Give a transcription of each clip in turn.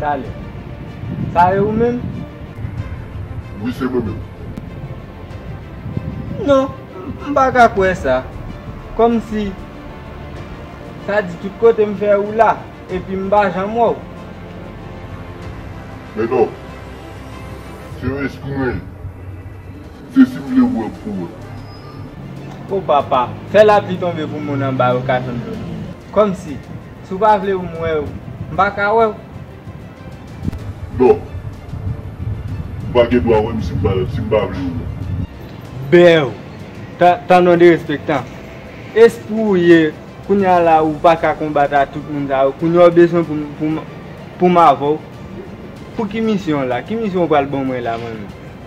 Talè. Sa e ou menm? Wi, se mwen menm. Non, m pa ka kwè sa. Kòmsi, sa di tout kote m fè ou la, epi m pa janm wè w. Mèt Òf, se reskri mwen ye. Jezi vle wè pou wè. O papa, fè lapli tonbe pou moun anba yo ka jwenn dlo bwi. Kòmsi, si w pa vle pou m wè ou, m pa ka wè ou. Non. Ou pa gen dwa wè m si m pa vle ou wè. Bew, Tan non derespektan. Espri ou ye, kounye a la ou pa ka konbat a tout moun sa yo, kounye a ou bezwen pou m avè w. Pou ki misyon w la? Ki misyon ou pral ban mwen la mwen menm?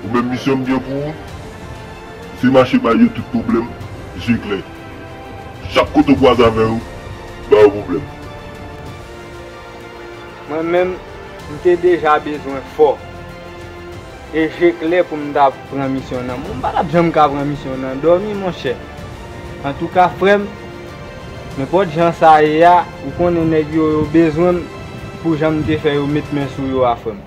Ou menm misyon m gen pou ou se mache bay yo tout pwoblèm je klè. Chak kote ou kwaze avè yo, ba yo pwoblèm. Mwen menm, m te deja bezwen fò e je klè pou m ta pran misyon nan men. M pa t ap janm ka pran misyon nan dòmi monchè. Antouka frè m, nenpòt jan sa ye a, ou konnen nèg yo yo bezwen m pou jan m te fè yo met men sou yo a frè m.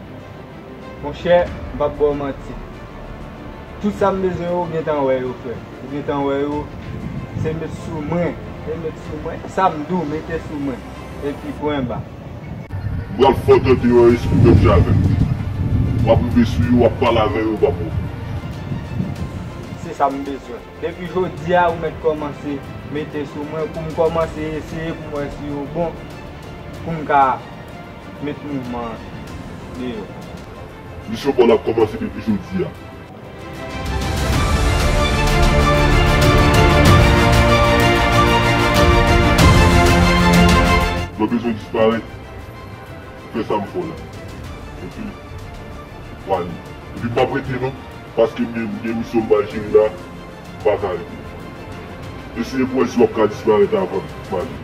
Monchè, m pap ba w manti. Tout sa m bezwen yo, ou gentan wè yo, frè. Ou gentan wè yo. Se met sou mwen. Se met sou mwen. Sa m di w, mete sou mwen. Epi pwen ba. M pral fè w tande yon espri menm jan avè m. W ap rive sou yo, w ap pale avè yo, pa pwoblèm. Se sa m bezwen. Depi jodi a, ou mèt kòmanse mete sou mwen pou m kòmanse eseye pou m wè si yo bon pou m ka. Met mouvman an deyo. Misyon pa w la ap kòmanse depi jodi a. Mwen bezwen disparèt pou fè sa m fè w la. Ok. Ou pwale. Epi m p ap rete non. Paske m gen misyon m ba jere la, m pa ka rete. Eseye pou w wè si w ap ka disparèt avan m ale.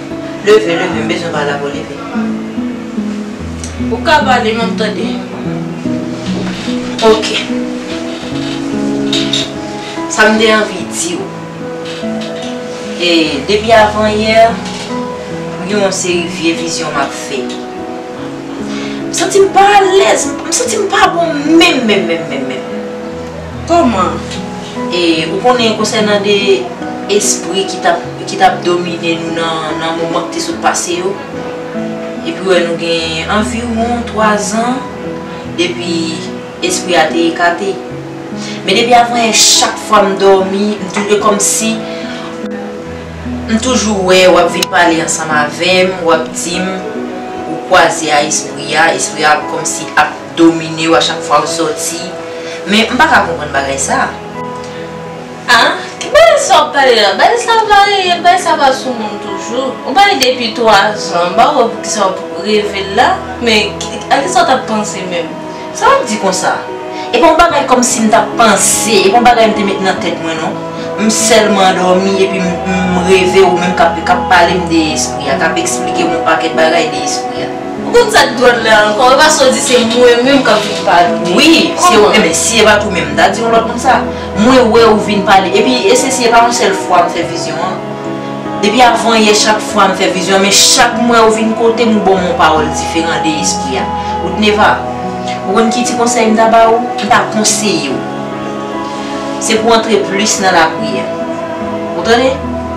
Leve leve m bezwen pale avèw leve. Ou ka pale map tande. Ok. Sam te anvi diw. E depi avan yè m gen yon seri vye vizyon map fè. M santi m pa alèz, m santi m pa bon menm menm menm menm menm. Koman? E ou konnen konsènan de espri ki t ap domine nou nan moman ki te sot pase yo? Epi wè nou gen anviwon twazan depi espri a te ekate. Men depi apre chak fwa m dòmi, e kòmsi m toujou wè w ap vin pale ansanm avè m, w ap di m ou kwaze a espri a, espri a kòmsi ap. dominew a chak fwa ou soti men m paka konprann bagay sa ah ki bagay sa wap pale la bagay sa varye bagay sa pa sou moun toujou ou pale depi 3 zan m pa wè poukisa wap revel la men a kisa w tap panse menm sa wap di konsa e pa yon bagay kòmsi m tap panse e pa yon bagay m te met nan tèt mwen non m sèlman dòmi epi m reve ou menm kap palem de espri a kap esplike m yon pakèt bagay de espri a. Ou konn sak dròl la ankò, epa saw di se mwen menm kap vin pale. Wi, se ou menm, si epa tou menm mta di yon lòt moun sa. Mwen wè ou vin pale, epi esesi epa yon sèl fwa mfè vizyon an. Depi avan yè chak fwa mfè vizyon an, men chak mwè ou vin kotem ou banm yon pawòl diferan de espri a. Woodneva, ou konn ki ti konsèy mta ba ou, mta konseyew. Se pou antre plis nan lapriyè. Ou tande?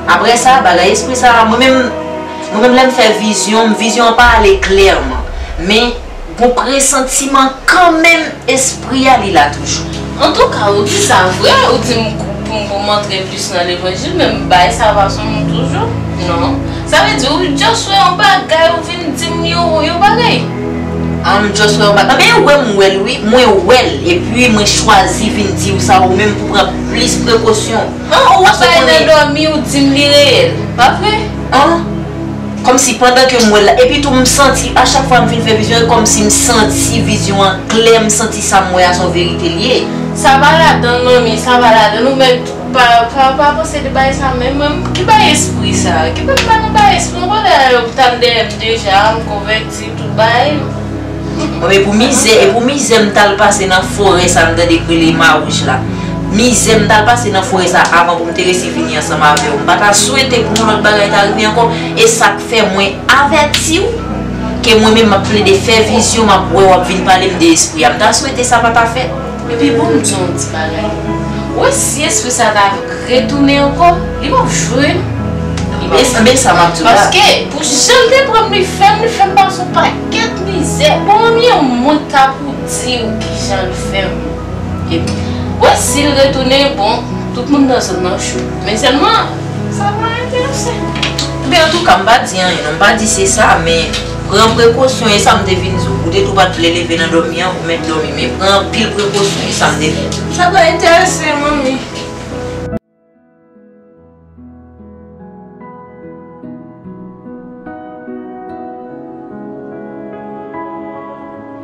Aprè sa, bagay espri sa, mwen menm. Mwen menm lè m fè vizyon m vizyon an pa ale klèman men gon presantiman kanmenm espri a li la toujou. Antouka ou di sa vre ou dim poum poum antre plis nan levanjil men m bay salvasyon m toujou non sa vle di ou just wè yon bagay ou vin dim yon bagay? Ah m just wè yon bagay men wè m wèl wi mwen wèl epi mwen chwazi vin diw sa ou menm pou pran plis prekosyon. An ou wap bay nan domi ou dim li reyèl pa vre. An Kòmsi pandan ke m wè l la epi tou m santi a chak fwa m fin fè vizyon e kòmsi m santi vizyon an klè m santi sa m wè a son verite l ye. Sa pa ladanl manmi sa pa ladanl ou mèt pa pa pa panse de bagay sa menm mwen ki bagay espri sa ki pou m pa nan bagay espri m konn wè yo tap dèyè m deja m konvèti. Se Dubai m. Epou mizè epou mizè m tal pase nan forè sa m tande k rele Marouj la. Mizè m tal pase nan forè sa avan pou m te resi vini ansanm avè w. M pa ta swete pou yon lòt bagay ta rive ankò. E sa k fè mwen avèti w ke mwen menm m ap plede fè vizyon m ap wè w ap vin pale m de espri a. M ta swete sa pa ta fèt. Epi bon m di w yon ti bagay. Ou wè si espri sa ta retounen ankò, li p ap jwe non. Ebyen sa m ap di w la. Paske pou jan l te pran m li fè m, li fè m pase yon pakèt mizè. Bon konbyen moun k ta pou di w ki jan l fè m. Epi ou wè si l retounen, bon tout moun nan zòn nan cho. Men sèlman sa pa enterese. Ebyen antouka m pa di anyen non, m pa di se sa men. Pran prekosyon e sa m te vin di w. Ou te di w pa t vle leve nan dòmi an, ou mèt dòmi men pran anpil prekosyon e sa m te vin di w. Sa pa enterese m Manmi.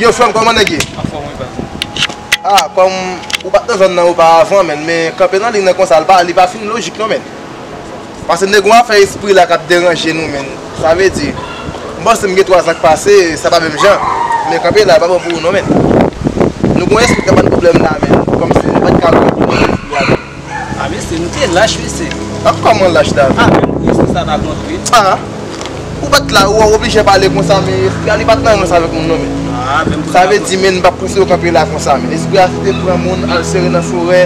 Yo frèm kòman nèg ye? Anfòm wi pati. Ah kòm ou pat nan zòn nan ou pa avan menn men kanpe nan liy nan konsa li pa fin lojik non menn. Pase nèg ou afè espri la kap deranje nou menn sa vle di m panse m gen 3 ans k pase sa pa menm jan men kanpe la pa bon pou ou non menn nou gon espri kap ban nou problèm la menn kòmsi nou pat ka wè kote espri a menm. Ah mesye nou te lach mesye. An kòman lach la menm. Ah menm kou espri sa pa kontre. Ah ou pat la ou oblije pale konsa men espri a li pat nan rans avèk moun non menn. Ah menm kou sa kontre. Sa vle di menn pa pouse yo kanpe la konsa menn espri a te pran moun al sere nan forè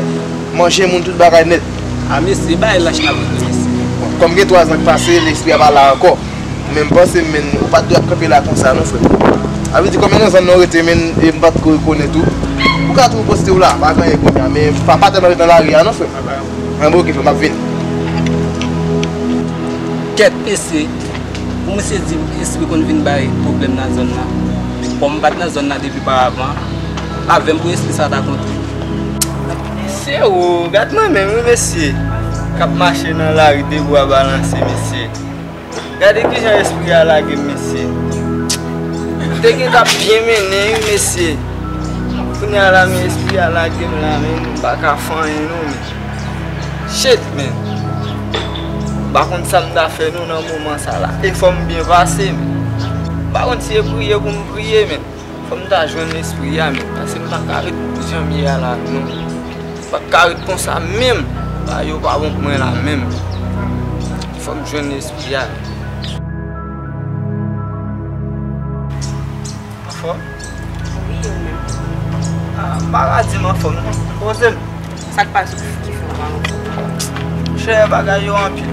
manje moun tout bagay nèt. A mesye, bay lach la mwen remesyem. Bon, kòm gen 3 zan k pase, lespri a pa la ankò. Men m panse menn, ou pa t dwe ap kanpe la konsa non frè m. A vle di konbyen nan zan nan ou rete menn e m pa t ko rekonèt ou? Ou ka toujou poste w la, pa gen anyen kounya. Men pa pa tèlman ret nan lari a non frè m. Anben ok frè m, m ap vini. Kèt mesye, pou misye di m espri konn vin bay pwoblèm nan zòn nan. Kòm m pa t nan zòn nan depi pa avan, avè m pou espri sa ta kontre. Mesye oo gad mwen menm wi mesye kap mache nan lari de bwa balanse mesye gade kijan espri a lagem mesye m te gentan ap byen mennen wi mesye kounya la men espri a lagem la men m paka fè anyen non men shit men m pa konn sa m ta fè non nan moman sa la e fòm byen pase men m pa konn si e priye pou m priye men. Fòm ta jwenn espri a menm pase m paka ret janm ye a la non m paka ret konsa menm bagay yo pa bon pou mwen la menm fòm jwenn espri a Anfòm? Wi e ou menm? A m paka di m anfòm non poze m Sak pase ki fè ou pa anfòm? Chè bagay yo anpil.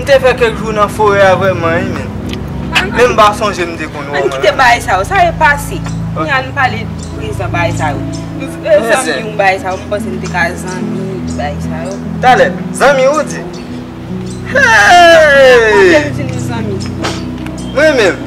M te fè kèk jou nan forè a vrèman wi menn. Menm m pa sonje m te konn wè w. Ann kite bagay sa yo, sa yo pase. Kounya ann pale prezan bagay sa yo. Zanmi w bagay sa yo, m panse nou te ka zanmi bagay sa yo. Talè, zanmi w ou di? Hee! Ou te di nou zanmi. Mwen menm?